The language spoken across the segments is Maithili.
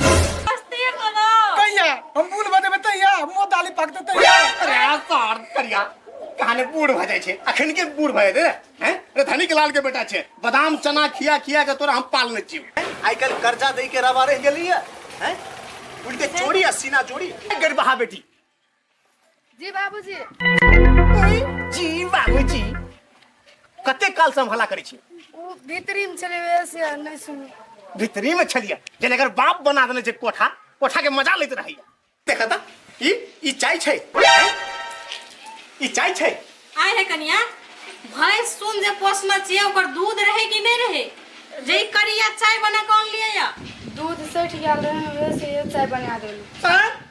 मस्ती करो कहिया हम बूढ़ बने में तहिया मुंह दाली पाक दे तहिया अरे यार सार करिया कहाने बूढ़ भ जाय छे अखन के बूढ़ भ जेते हैं रे धनिक लाल के बेटा छे बादाम चना खिया खिया के तोरा हम पालने छी आई कल कर्जा दे के रवा रह गेली है हैं उल्टे चोरी आ सीना चोरी गरबहा बेटी जी बाबूजी जी बाबूजी कते काल से हम हला करै छी ओ भीतरी में चले गए से नहीं सुन भीतरी में छलिया जेना अगर बाप बना देने छै कोठा कोठा के मजा लैत रहैया देखा ता ई ई चाय छै हैं? ई चाय छै आय है कनिया भैंस सुन जे पोसना चाहिए ओकर दूध रहे कि नहीं रहे जे ई करिया चाय बना कौन लिए या दूध सठ गया रहे वैसे ये चाय बना देलू हैं?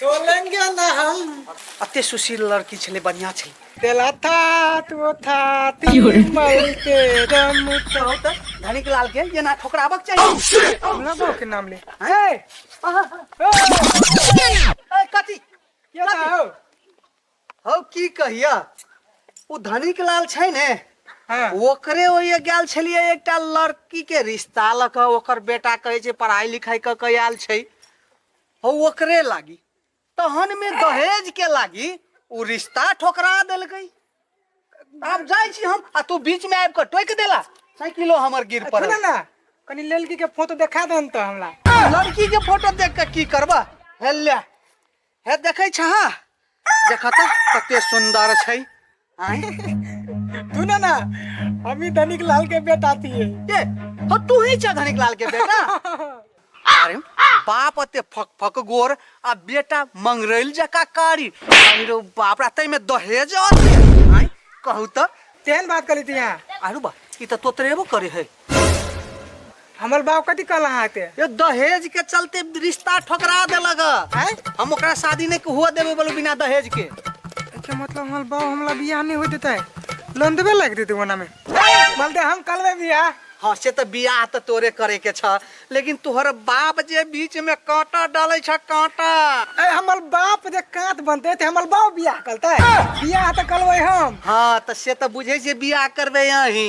तोलेंगे ना हम अते सुशील लड़की छले बढ़िया छले तेला था तो था तीन मर के दम कहो त धनिक लाल के ये ना ठोकराबक चाहिए हमरा गांव के नाम ले ए ए कथी के ना हो हौ की कहिया उ धनिक लाल छै ने हां ओकरे ओए गेल छलिए एकटा लड़की के रिश्ता लक ओकर बेटा कहै छै पढ़ाई लिखाई क के आयल छै हो ओकरे लागी तहन में दहेज के लागी उ रिश्ता ठोकरा देलकै आब जाइ छी हम आ तू बीच में आबि के टोकि देला साइकिलो हमर गिर सुन पड़ल ना कनी लड़की के फोटो देखा दहन तो हमरा लड़की के फोटो देख के की करबा हेले हे देखै छह देखा तो कते सुंदर छै आय तू ना ना हम ही धनिक लाल के बेटा थिए ए हो तू ही छ धनिक लाल के बेटा अरे बाप अते फक फक गोर आ बेटा मंगरैल जका कारी अरे रो बाप रा तै में दहेज अते आय कहू त तेहन बात करी थी यहाँ आरू बा ई त तोतरेबो करे है हमर बाप कथी कहल अहाँ के यो दहेज के चलते रिश्ता ठोकरा देलक हैं हम ओकरा शादी नहीं के हुआ देबे बोलो बिना दहेज के एके मतलब हमर बाप हमला बियाह नहीं हो देता है लोन देबे लाग देते ओना में बोलते हम कलवे बियाह हाँ से तो बियाह तो तोरे करे के छ लेकिन तोहर बाप जे बीच में कांटा डाले छ कांटा अरे हमर बाप जे कांत बनते ते हमर बाप बियाह करते बियाह तो कलवे हम हाँ तो से तो बुझे जे बियाह करबे यही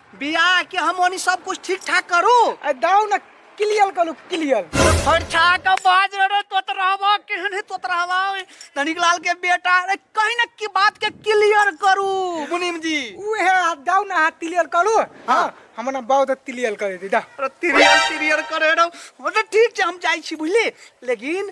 बियाह के हम ओनी सब कुछ ठीक ठाक करू आ दाऊ ना क्लियर करू क्लियर फरछा के बाज रे तोत रहबा केहन है तोत रहबा धनिक लाल के बेटा अरे कहीं ना की बात के क्लियर करू मुनीम जी उहे हाथ दाऊ ना हाथ क्लियर करू हाँ हमरा ना बहुत क्लियर करे दी दा अरे तिरियर तिरियर करे रहो अरे ठीक छै हम जाइ छी बुझली लेकिन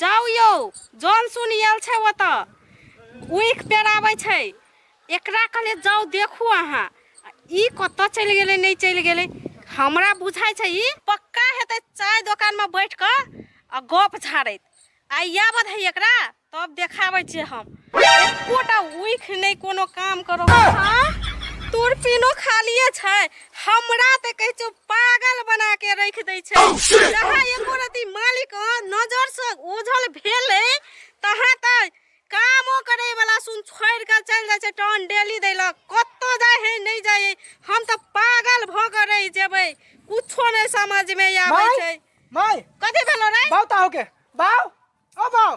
जाउ यौ जन सुन आयल छै ओतऽ उइख पेराबै छै एकरा कहले जाउ देखू अहाँ ई कतऽ चलि गेलै नहि चलि गेलै हमरा बुझाइ छै ई पक्का हेतै चाय दोकानमे बैठ कऽ आ गप झाड़ैत आइ इएह बध है एकरा तब देखाबै छियै हम एकोटा उइख नहि कोनो काम करो तोर पिनो खालिए छै हमरा तऽ कहै छौ पागल बना के रख दै छै जहाँ एको रति मालिक नजर से ओझल भेले तहाँ तऽ कामो करे वाला सुन छोड़ के चल जाए छै टन डेली दै लऽ कत्तो जाए है नहीं जाए हम तऽ पागल भ के रह जेबै कुछो नहीं समझ में आबै छै माय कथी भेलो रे बाउ ता होके बाउ ओ बाउ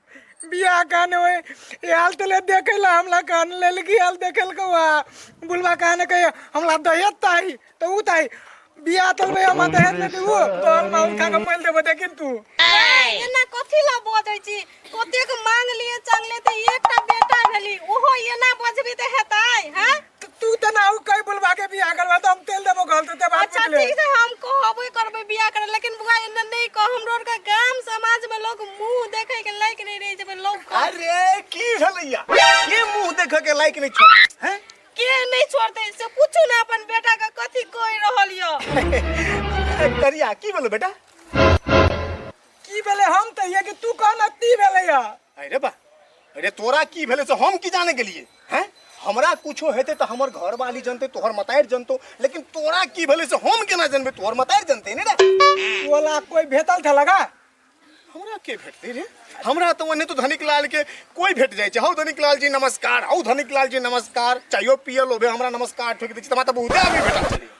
बियाह कान होय आयल तले देखे ला हमला कान ललकी आयल देखल को आ बुलवा कान के हमला दहेज ताई तो उ ताई बियाह तल में हम दहेज में देबो तो हम माउन खा के मोल देबो देखिन तू एना कथी ला बजै छी कतेक मांग लिए चांगले ते एकटा बेटा भेली ओहो एना बजबी ते हेतै हैं तो तू तो ना हो कहीं बुलवा के बियाह करवा तो हम तेल देबो गल तो देबा अच्छा ठीक से हम कहबे करबे बियाह करे लेकिन बुआ एने नहीं कह हमरो आर के गांव समाज में लोग मुंह देखे के लायक नहीं रह जबे लोग कह- अरे की हलैया ये मुंह देख के लाइक नहीं छोड़ हैं के नहीं छोड़ते से कुछ ना अपन बेटा के कथी कह रहल यो करिया की बोलो बेटा की भेले हम तो ये कि तू कहना ती भेले या अरे बा अरे तोरा की भेले से हम की जाने गेलिए हैं हमरा कुछो हेते तो हमर घर वाली जनते तोहर मतायर जनतो लेकिन तोरा की भेले से हम केना जनबे तोहर मतायर जनते ने रे बोला कोई भेटल था लगा हमरा के भेटते रे हमरा तो ओने तो धनिक लाल के कोई भेट जाय छै हौ धनिक लाल जी नमस्कार हौ धनिक लाल जी नमस्कार चायो पियल होबे हमरा नमस्कार ठोक दै छी तमा त बहुते आदमी भेटल छलै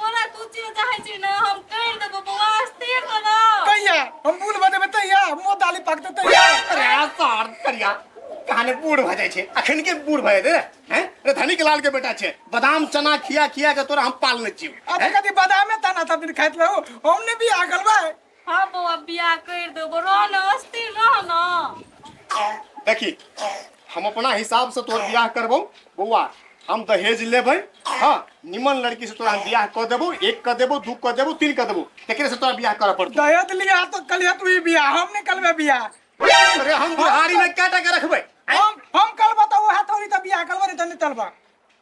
तोरा तू चीज चाहै छी ने हम करि देबो बौआ स्थिर तो ना कहिया हम बूढ़ भऽ जेबै तहिया मुँह दाली पाकतै तहिया अरे यार सार करिया कहाने बूढ़ भऽ जाइ छै अखन के बूढ़ भऽ जेतै हैं रे धनिक लाल के बेटा छै बादाम चना खिया खिया के तोरा हम पालने छी अब कथी बादामे ताना सब दिन खाइत रहू हम ने भी आगल बा हँ बौआ बियाह करि देबो रह ने अस्थिर रह ने देखी हम अपना हिसाब से तोहर बियाह करबो बौआ हम दहेज लेबै हाँ निमन लड़की से तोरा हम बियाह कऽ देबो एक कऽ देबो दू कऽ देबो तीन कऽ देबो तेकरे से तोरा बियाह करऽ पड़तौ दहेज लिया तो कलिया तू ही बिया हम नहीं कलबे बिया अरे हम बुढ़ारी में क्या टका रखबै हम हम कलबा तो वह थोड़ी तो बिया कलबा नहीं तो नहीं तलबा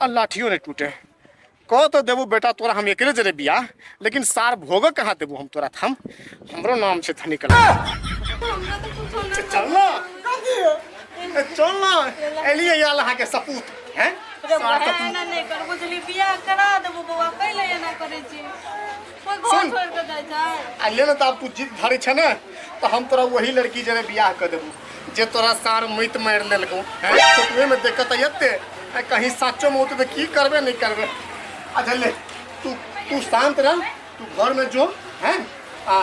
आ लाठियो नहीं टूटे कह तो देबू बेटा तोरा हम एकरे जरे बिया लेकिन सार भोग कहाँ देबू हम तोरा थाम हमरो नाम से था निकल हमरा तो कुछ होना चल ना ए, चल ना एलिए याल अहाँ के सपूत हैं सार सपूत एना नहीं करबो जली बियाह करा देबो बौआ कैले एना करै छी कोई घर सुन। छोड़ के जाए जाए आ ले ना तऽ आब तू जिद धरे छै ने तऽ हम तोरा वही लड़की जरे बियाह कऽ देबू जे तोरा सार मैत मारि लेलकौ हैं? फोटोए में देखत तऽ एते आ कहीं साचो में होतै तऽ की करबे नहि करबे अच्छा ले तू तू शांत रह तू घर में जो हैं आ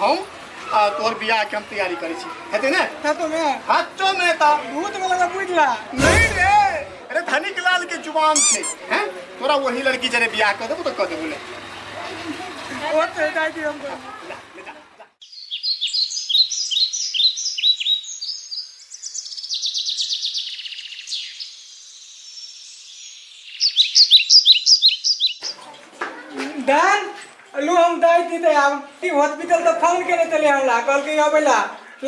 हम आ तोहर बियाह के हम तैयारी करै छी हेतै ने ता तो मैं हाथो में तऽ भूत में लगा बुझला नहीं रे अरे धनिक लाल के जुबान छे हैं तोरा वही लड़की जरे बियाह कर देबो तो कर देबो ले ओ तो दाई दी हमको दान लू हम दाई दी दे हम हॉस्पिटल तो फोन करे चले हमला कल के अबेला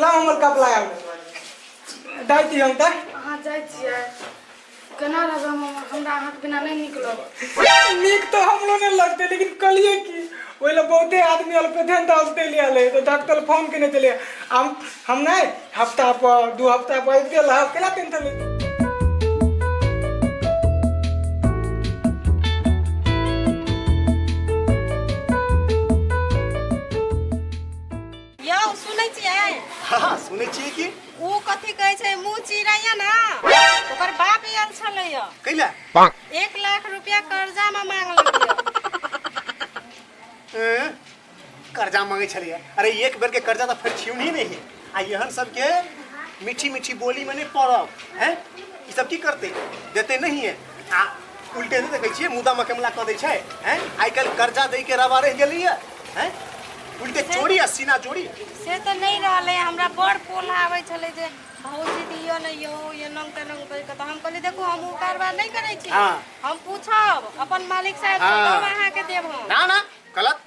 ला हमर कपला आऊ डाइ दियौ हम डाइ अहाँ जाइ छियै केना रहबै हम हमरा अहाँके बिना नहि नीक लगत नीक तऽ हमरो नहि लगतै लेकिन कलिए की ओहि लए बहुते आदमी अल पे ध्यान दस दे लिया ले तो डॉक्टर फोन केने चले हम हम नहीं हफ्ता पर दू हफ्ता पर आबि गेल हम केना टेंशन लेते यौ सुनै छियै हाँ सुनै छियै कि ओ कथी कहै छै मुँह चिड़ैया ना ओकर बाप आयल छलै यौ कैला एक लाख रुपया कर्जा में मांगलकै यौ कर्जा मांगे छलै अरे एक बेर के कर्जा तो फिर छियौ नहीं नहीं आ यहन सब के मीठी मीठी बोली मने पड़ब हैं ई सब की करते देते नहीं है आ उल्टे नहि देखै छियै मुदा मकमला कऽ दै छै हैं आइ काल्हि कर्जा दै के रवा रहि गेली है हैं उल्टे चोरी आ सीना जोड़ी से तऽ नहि रहलै हमरा बड़ पोल आबै छलै जे भौजी दियो ने यौ एना तेना कहि कऽ तऽ हम कहलियै देखू हम ओ कारबार नहि करै छी हाँ। हम पूछब अपन मालिक साहब हाँ। हम अहाँके देब हम ना ना गलत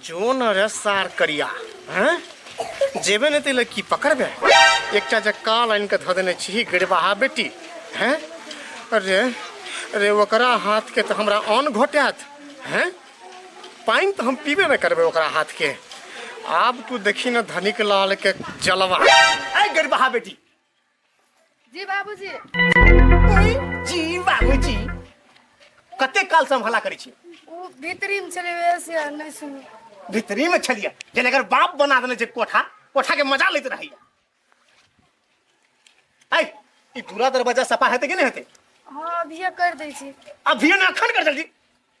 जोन रे सार करिया हैं जेबे ने तेल की पकड़बे एकटा जे काल आनि के धऽ देने छी गड़बाहा बेटी हैं अरे अरे ओकरा हाथ के तो हमरा अन्न घोटात हैं पानि तो हम पीबे ने करबे ओकरा हाथ के आब तू देखी ने धनिक लाल के जलवा ऐ गड़बाहा बेटी जी बाबूजी जी बाबूजी कते काल से हम हल्ला करै छी ओ भीतरी में चले गए से आ, नहीं सुनी भीतरी में छलिया जेना अगर बाप बना देने छै कोठा कोठा के मजा लैत रहैया ऐ ई दूरा दरवाजा सफा हेतै कि नहि हेतै हाँ अभी कर दै छी अभियो ने अखन कर जल्दी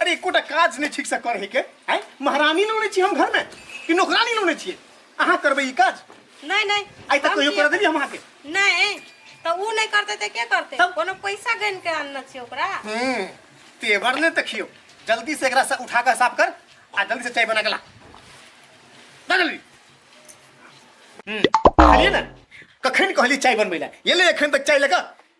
अरे एकोटा काज नहि ठीकसँ करहे के आय महारानी लोने छी हम घरमे कि नौकरानी लोने छियै अहाँ करबै ई काज नहीं नहीं आइ तक हम कहियो किया करऽ देलियै हम अहाँके करब? नहीं तो वो नहीं करते तो क्या करते तब- कोनो पैसा गन के आनना चाहिए ओकरा हम्म, तेवर ने देखियो जल्दी से एकरा से उठा के साफ कर आ जल्दी से चाय बना के ला ला जल्दी हम्म, कहलिए ना कखन कहली चाय बनबै ला ये ले एखन तक चाय लेकर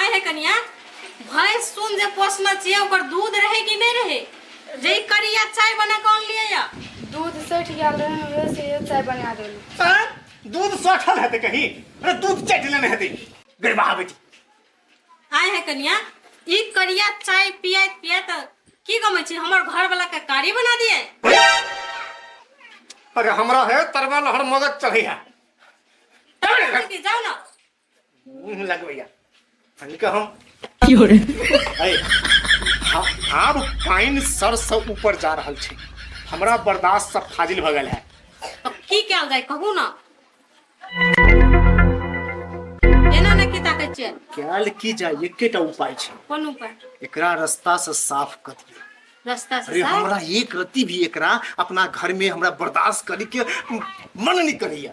आय है कनिया भैंस सुन जे पोसना चाहिए ओकर दूध रहे कि नहीं रहे जे ई करिया चाय बना कौन लिए या दूध सठि गेल रहै उहे से इहे चाय बना देलहुँ आँय? दूध सठल हेतै कहीं अरे दूध चटि लेने हेतै गड़बहा बेटी आय है कनिया ई करिया चाय पियात पियात की गमे छी हमर घर वाला के कारी बना दिए अरे हमरा है तरवा लहर मगज चढ़ै है जाओ ना मुंह लग भैया हनिका हम की हो रे अरे आ- आब पानि सर से ऊपर जा रहल छै हमरा बर्दाश्त सब फाजिल भऽ गेल है अब की कयल जाय कहू ने एना ने की ताकै छियै कयल की जाय एकेटा उपाय छै कोन उपाय एकरा रास्ता से साफ कऽ दियौ रास्ता से अरे साफ? हमरा एक रति भी एकरा अपना घर में हमरा बर्दाश्त करे के मन नहीं करैया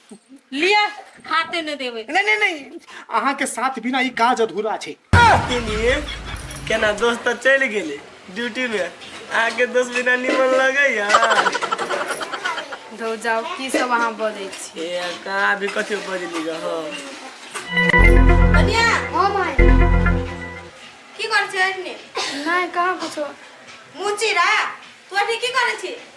लिया खाते ने देवे नहीं नहीं नहीं अहाँ के साथ बिना ई काज अधूरा छै लिए केना दोस्त तऽ चलि गेलै ड्यूटी में आके दोस्त बिना निमन लगैया धो जाओ की सब अहाँ बजै छी ए कहाँ अभी कथी बजली गऽ हम कनिया ओ माय की कर छै एखने नहीं कहाँ कुछो मुंह चिरा तू अभी की करे छी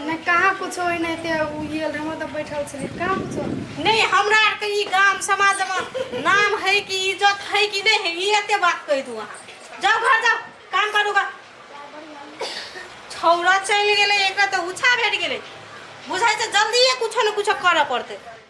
नहि कहाँ कुछो होइ नहि ते उ गेल रहे हम तऽ बैठल छली कहाँ कुछो नहीं हमरा आर के ई गाम समाज में नाम है कि इज्जत है कि नहीं है ये एते बात कह दू अहाँ जाओ घर जाओ काम करू गा छौरा चलि गेलै एकरा तऽ उछा भेट गेलै बुझाइ छै जल्दिए कुछो ने कुछो करऽ पड़तै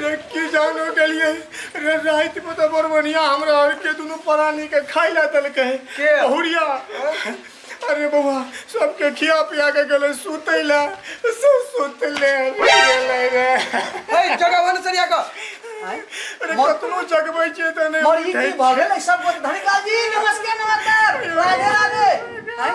रे की जानो गेलिए रे रात में तो बड़ बढ़िया हमरा और के दोनों प्राणी के खाई ला दल के के? बहुरिया अरे बउआ सबके खिया पिया के गेले सुते ला सब सुते ले गेले रे ए जगह वन सरिया का अरे कतनो जगबै छै त नै मरी की भगेल सब धनिका जी नमस्कार नमस्कार राधे राधे हैं?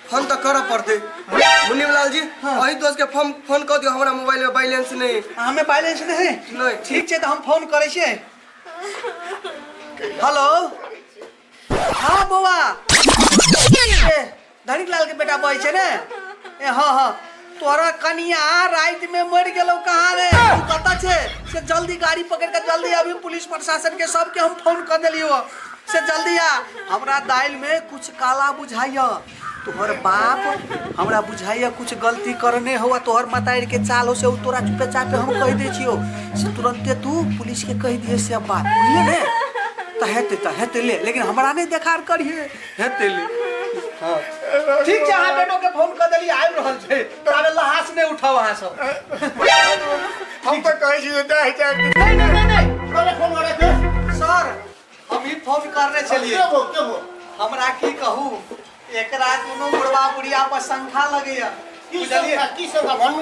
फोन तऽ करऽ पड़तै मुनीलाल जी हाँ। अही दोस्त के फोन फोन कऽ दियौ हमरा मोबाइल में बैलेंस नहीं है। आ, हमे बैलेंस नहीं है नहीं, ठीक। ठीक छै तऽ हम फोन करै छियै हेलो हाँ बौआ ए, धनिक लाल के बेटा बजै छै ने ए हाँ हाँ तोरा कनिया रात में मर गेलो कहाँ रे तू कता छे से जल्दी गाड़ी पकड़ के जल्दी अभी पुलिस प्रशासन के सबके हम फोन कर दिलियो से जल्दी आ हमरा दाल में कुछ काला बुझाइया तोहर बाप हमरा बुझाइया कुछ गलती करने हो तोहर मतार के चाल हो से उ तोरा चुपे चापे हम कह दे छियो से तुरंते तू पुलिस के कह दिए से अब बात बुझले ने तहेते तहेते ले लेकिन हमरा नहीं देखार करिए हेतेली हाँ। ठीक छै अहाँ बेटो के फोन कर देली आबि रहल छै ताबे लहास नहि उठाउ अहाँ सब हम तो कहै छी जे जाय जाय नहीं नहीं नहीं नहीं अरे फोन वाला के सर हम ही फोन करने चलिए के हो के हो हमरा की कहू एकरा कोनो बुढ़वा बुढ़िया पर शंखा लगैया की बुझलियै सब की सब भन